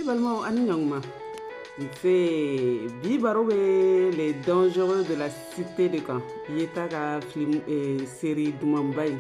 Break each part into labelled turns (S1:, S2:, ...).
S1: Ne balimaw ani ɲɔgɔnma nse bi baro bɛ les dangereux de la cité de kan yeta ka film eh, série dumanba in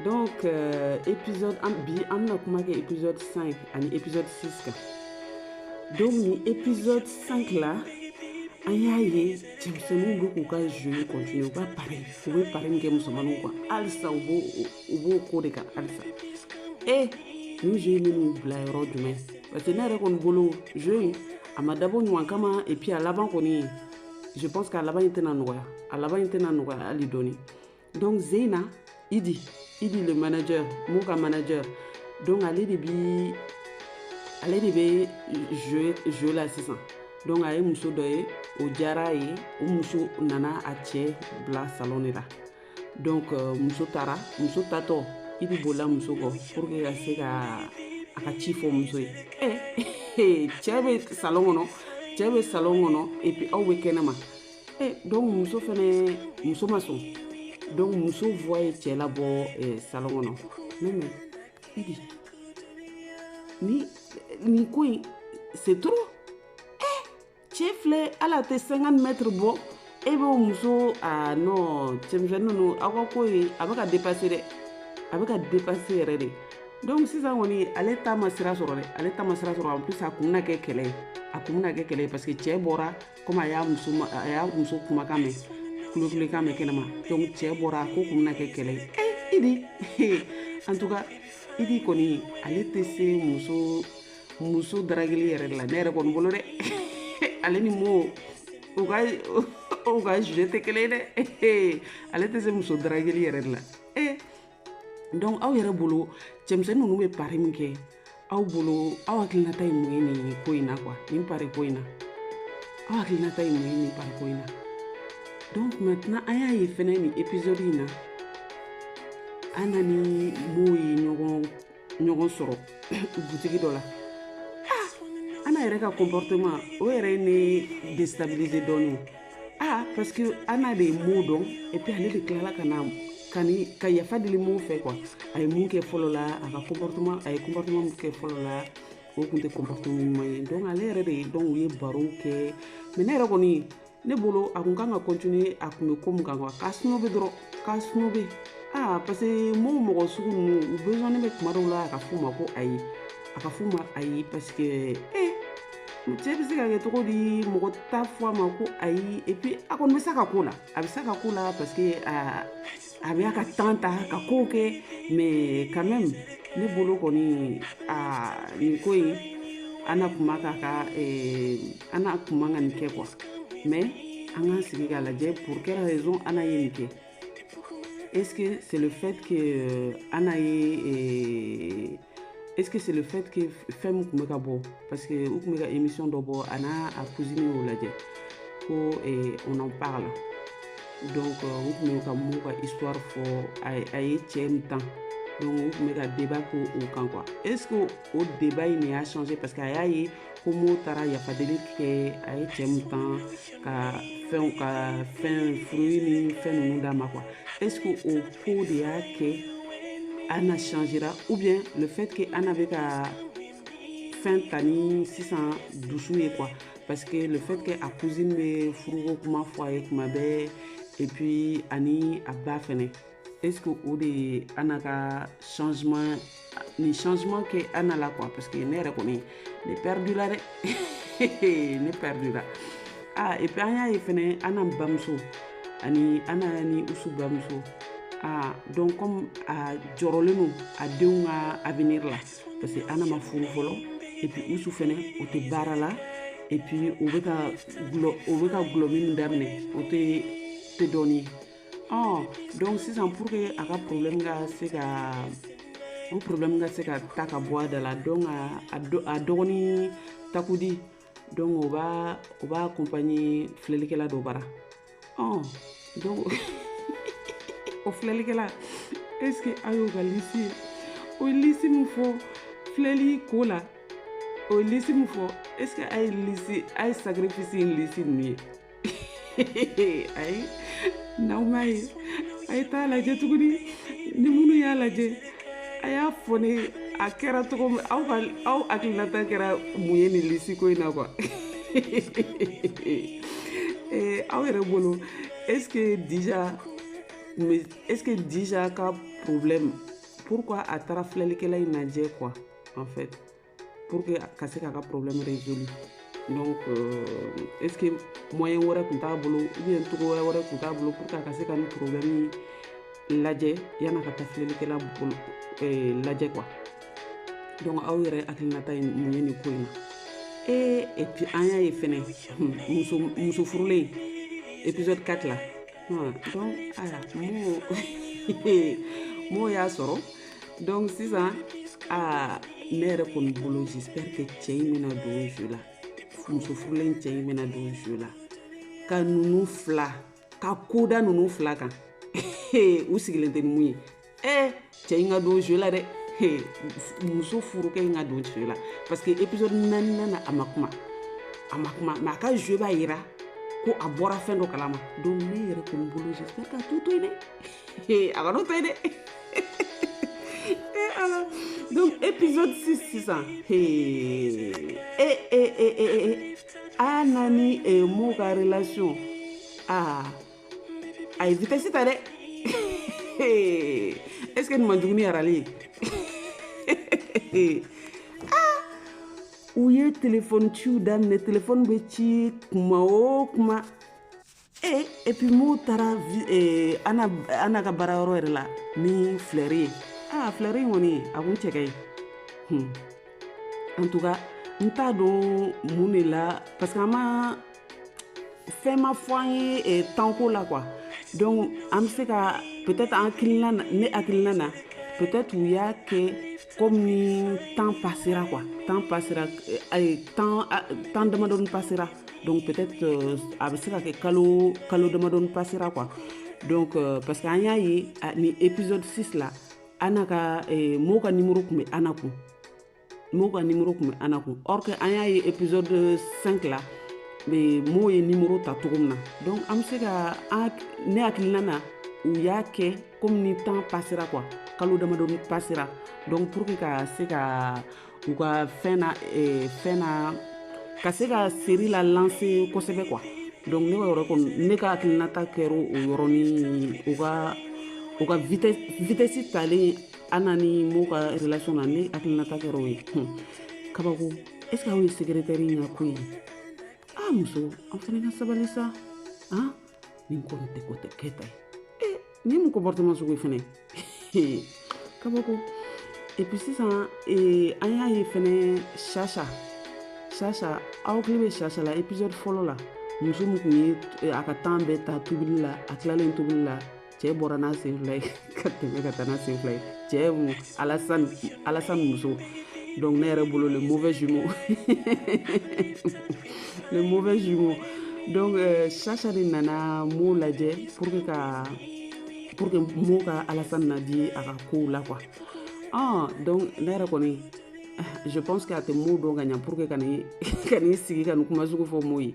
S1: donc euh, épisode an bi an bɛna kuma kɛ épisode 5 ani épisode 6 kan donc nin épisode 5 la an y'a ye cɛmisɛnninw bɛ k'u ka jeu continuer u ka pari u bɛ pari min kɛ musomaninw kan halisa u b'o u b'o ko de kan halisa e nin jeu in bɛn'u bila yɔrɔ jumɛn parce que ne yɛrɛ kɔni bolo jeu in a ma dabɔ ɲuman kama et puis a laban kɔni je pense k'a laban in tɛna nɔgɔya a laban in tɛna nɔgɔya hali dɔɔni donc zeina idi idi le manager mo ka manager donc ale de bi ale de bɛ jeu jeu la sisan donc a ye muso dɔ ye o diyara a ye o muso nana a cɛ bila salon de la donc euh, muso taara muso taatɔ idi bolila muso kɔ pour que ka se ka a ka ci fɔ muso ye ɛ eh, cɛ bɛ salon kɔnɔ cɛ bɛ salon kɔnɔ et puis aw bɛ kɛnɛma ɛ eh, donc muso fɛnɛ muso ma sɔn donc muso voix ye cɛ labɔ eh, salon kɔnɔ mais idi nin ko in c'est trop cɛ filɛ ala tɛ 50 mètres bɔ e b'o muso ah non cɛmisɛnni ninnu aw ka ko ye a bɛ ka dépasser dɛ a bɛ ka dépasser yɛrɛ de donc sisan kɔni ale ta ma sira sɔrɔ dɛ ale ta ma sira sɔrɔ en plus a kun bɛna kɛ kɛlɛ ye a kun bɛna kɛ kɛlɛ ye parce que cɛ bɔra comme a y'a muso a y'a muso kumakan mɛn kulekan mɛn kɛnɛma donc cɛ bɔra a ko kun bɛna kɛ kɛlɛ ye ee idi en tout cas idi kɔni ale tɛ se muso muso darageli yɛrɛ de la ne yɛrɛ kɔni bolo dɛ ale ni mo u ka u ka jeu tɛ kelen ye dɛ ale tɛ se muso darageli yɛrɛ de la eh, donc aw yɛrɛ bolo cɛmisɛnnin ninnu bɛ pari min kɛ aw bolo aw hakilinata ye mun ye nin ko in na quoi nin pari ko in na aw hakilinata ye mun ye nin pari ko in na donc maintenant an y'a ye fɛnɛ nin épisode in na ana ni mo ye ɲɔgɔn ɲɔgɔn sɔrɔ butigi dɔ la ah, ana yɛrɛ ka comportement o yɛrɛ ye ne déstabiliser dɔɔni ah parce que ana de ye mo dɔn et puis ale de tilala ka na ka yafa deli mo fɛ quoi a ye mun kɛ fɔlɔ la a ka comportement a ye comportement mun kɛ fɔlɔ la o tun tɛ comportement ɲuman ye donc ale yɛrɛ de ye donc u ye barow kɛ mais ne yɛrɛ kɔni ne bolo a kun kan ka continuer a kun bɛ ko mun kan quoi k'a snober dɔrɔn k'a snober aa parce que mɔgɔ mɔgɔ sugu ninnu u besoin bɛ tuma dɔw la a ka f'u ma ko ayi a ka f'u ma ayi parce que ee cɛ bɛ se ka kɛ cogo di mɔgɔ t'a fɔ a ma ko ayi et puis a kɔni bɛ se ka k'o la a bɛ se ka k'o la parce que aa a bɛ a ka temps ta ka kow kɛ mais quand même ne bolo kɔni a nin ko in ana kun man kan ka ana kun man ka nin kɛ quoi mais an k'an sigi k'a lajɛ pour quelle raison ana ye nin kɛ est ce que c'est le fait que ana ye Est-ce que c'est le fait que fɛn min tun bɛ ka bɔ parce que u tun bɛ ka émission dɔ bɔ a n'a a cousine y'o lajɛ ko eh, on en parle donc euh, u tun bɛ ka mo ka histoire fɔ a ye cɛ min tan donc u tun bɛ ka débat k'o o kan quoi est ce que o débat in de y'a changer parce que a y'a ye ko mo taara yafadeli kɛ a ye cɛ min tan ka fɛnw ka fɛn fruit ni fɛn ninnu d'a ma quoi est ce que o ko de y'a kɛ ana changera ou bien le fait que ana bɛ ka fɛn ta ni sisan dusu ye quoi parce que le fait que a cousine bɛ furuko kuma fɔ a ye kuma bɛɛ et puis ani a ba fɛnɛ est-ce que o de ye ana ka changement nin changement kɛ ana la quoi parce que ne yɛrɛ kɔni ne perdu la dɛ ne perdu la ah et puis an y'a ye fɛnɛ ana bamuso ani ana ni usu bamuso ah donc comme a jɔrɔlen don a denw ka avenir la parce que ana ma furu fɔlɔ et puis usu fɛnɛ o tɛ baara la et puis o bɛ ka gulɔ o bɛ ka gulɔ min daminɛ o tɛ dɔɔnin ye ɔ donc sisan pour que a ka problème ka se ka o problème ka se ka ta ka bɔ a da la donc a dɔgɔni takudi donc o b'a o b'a accompagner filɛlikɛla dɔ bara ɔ donc o filɛlikɛla est ce que a y'o ka lisi ye o ye lisi min fɔ filɛli ko la o ye lisi min fɔ est ce que a ye lisi a ye sacrifice in lisi ninnu ye ayi n'aw m'a ye a ye t'a lajɛ tuguni ni minnu y'a lajɛ a y'a fɔ ne a kɛra cogo min aw ka aw hakilinata kɛra mun ye nin lisi ko in na quoi eh, aw yɛrɛ bolo est ce que déjà mais est ce que déjà ka problème pourquoi a taara filɛlikɛla in lajɛ quoi en fait pour que ka se k'a ka problème résolu donc euh, est ce que moyen wɛrɛ tun t'a bolo ou bien cogo wɛrɛ wɛrɛ tun t'a bolo pour que a ka se ka nin problème lajɛ yan'a ka taa filɛlikɛla bolo eh, lajɛ quoi donc aw yɛrɛ hakilinata ye mun ye nin ko in na ee et puis an y'a ye fɛnɛ muso muso furulen épisode 4 la Hmm, donc aya mo mo y'a sɔrɔ donc sisan aa ne yɛrɛ kɔni bolo j'espère que cɛ in bɛna don jeu la muso furulen cɛ in bɛna don jeu la ka ninnu fila ka ko da ninnu fila kan u sigilen tɛ ni mun ye ee cɛ in ka don jeu la dɛ Hey, muso furukɛ in ka don jeu la parce que épisode naaninan na a ma kuma a ma kuma mais a ka jeu b'a yira ko a bɔra fɛn dɔ kalama donc ne yɛrɛ kɔni bolo j'espère k'a t'o to yen dɛ Hey, a kana o to yen dɛ Eh, ala. donc épisode 6 sisan Hey. Eh, eh, eh, eh, eh. ana ni eh, mo ka relation ah a ye vitesse ta dɛ est ce que nin man jugu ni rallye ye ah! u ye telefɔni ciw daminɛ telefɔni bɛ ci kuma o kuma e eh, et puis mo taara eh, ana ana ka baara yɔrɔ yɛrɛ la ni filɛri ye aa ah, filɛri in kɔni a kun cɛ ka ɲi hmm. en tout cas n t'a dɔn mun de la parce que an ma fɛn ma fɔ an ye eh, temps ko la quoi donc an bɛ se ka peut-être an hakilina na ne hakilina na peut-être u y'a kɛ comme ni temps passera quoi temps passera eh, temps ah, temps damadɔni passera donc peut-être euh, a bɛ se ka kɛ kalo kalo damadɔni passera quoi donc euh, parce que an y'a ye ah, ni épisode 6 la ana ka eh, mo ka numéro kun bɛ ana kun mo ka numéro kun bɛ ana kun or que an y'a ye épisode 5 la mo ye numéro ta cogo min na donc an bɛ se ka ne hakilina na u y'a kɛ comme ni temps passera quoi kalo damadɔni passera donc pour que ka se ka u ka fɛn na eh, fɛn na ka se ka série la lancer kosɛbɛ quoi donc ne ka yɔrɔ kɔni ne ka hakilinata kɛra o yɔrɔnin u ka u ka vitesse vitesse talen Ana ni mo ka relation na ne hakilinata kɛra o ye hun kabako est ce que aw ye secrétaire in ka ko ye aa ah, muso an fana ka sabali sa han ah, nin kɔni tɛ ko tɛ kɛta ye e eh, nin mun comportement sugu ye fɛnɛ kabako et puis sisan eh, an y'a ye fɛnɛ chacha chacha aw hakili bɛ chacha la épisode fɔlɔ la muso min kun ye eh, a ka temps bɛɛ ta tobili la a tilalen tobili la cɛ bɔra n'a sen fila ye ka tɛmɛ ka taa n'a sen fila ye cɛ alasani alasani muso donc ne yɛrɛ bolo le mauvais jumeau le mauvais jumeau donc euh, chacha de nana mo lajɛ pour que ka pour que mo ka alasani laadi a ka kow la quoi ah donc ne yɛrɛ kɔni je pense que a tɛ mo dɔn ka ɲa pour que ka n'i sigi ka nin kuma sugu fɔ mo ye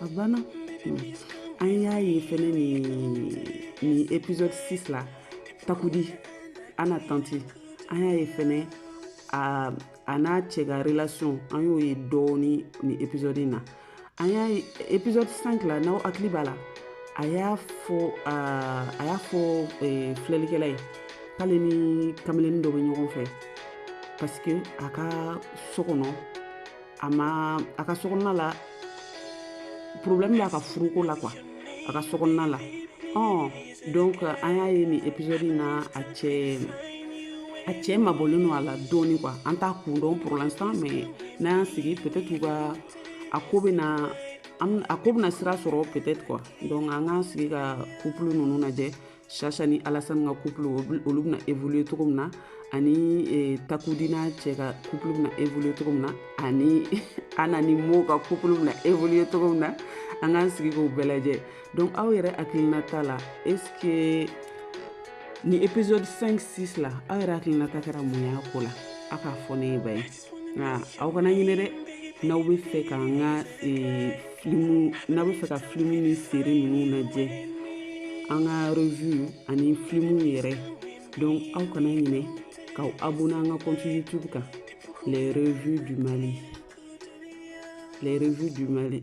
S1: a banna an y'a ye fɛnɛ nin nin épisode 6 la takudi ana tanti an y'a ye fɛnɛ a a n'a cɛ ka relation an y'o ye dɔɔni nin épisode in na an y'a ye épisode 5 la n'aw hakili b'a la a y'a fɔ a y'a fɔ eh, filɛlikɛla ye k'ale ni kameleni dɔ bɛ ɲɔgɔn fɛ parce que a ka so kɔnɔ a ma a ka sokɔnɔna la problème b'a ka furuko la quoi a ka sokɔnɔna la ɔn donc an y'a ye nin épisode in na a cɛ a cɛ mabɔlen don a la dɔɔni quoi an t'a kun dɔn pour l'instant mais n'an y'an sigi peut-être u ka a ko bɛna a ko bɛna sira sɔrɔ peut-être quoi donc an k'an sigi ka couple ninnu lajɛ sasa ni alasani ka couple olu bɛna évoluer cogo min na ani e, takudi n'a cɛ ka couple bɛna évoluer cogo min na ani ana ni mo ka couple bɛna évoluer cogo min na an k'an sigi k'o bɛɛ lajɛ donc aw yɛrɛ hakilinata la est ce que ni épisode 5 6 la aw yɛrɛ hakilinata kɛra mun y'a ko la aw k'a fɔ ne ye ba ye nka aw kana ɲinɛ dɛ n'aw bɛ fɛ ka n ka eh, filimu n'aw bɛ fɛ ka filimu ni série ninnu lajɛ an ka revue ani filimu yɛrɛ donc aw kana ɲinɛ k'aw abonner an ka compte youtube kan les revues du mali les revues du mali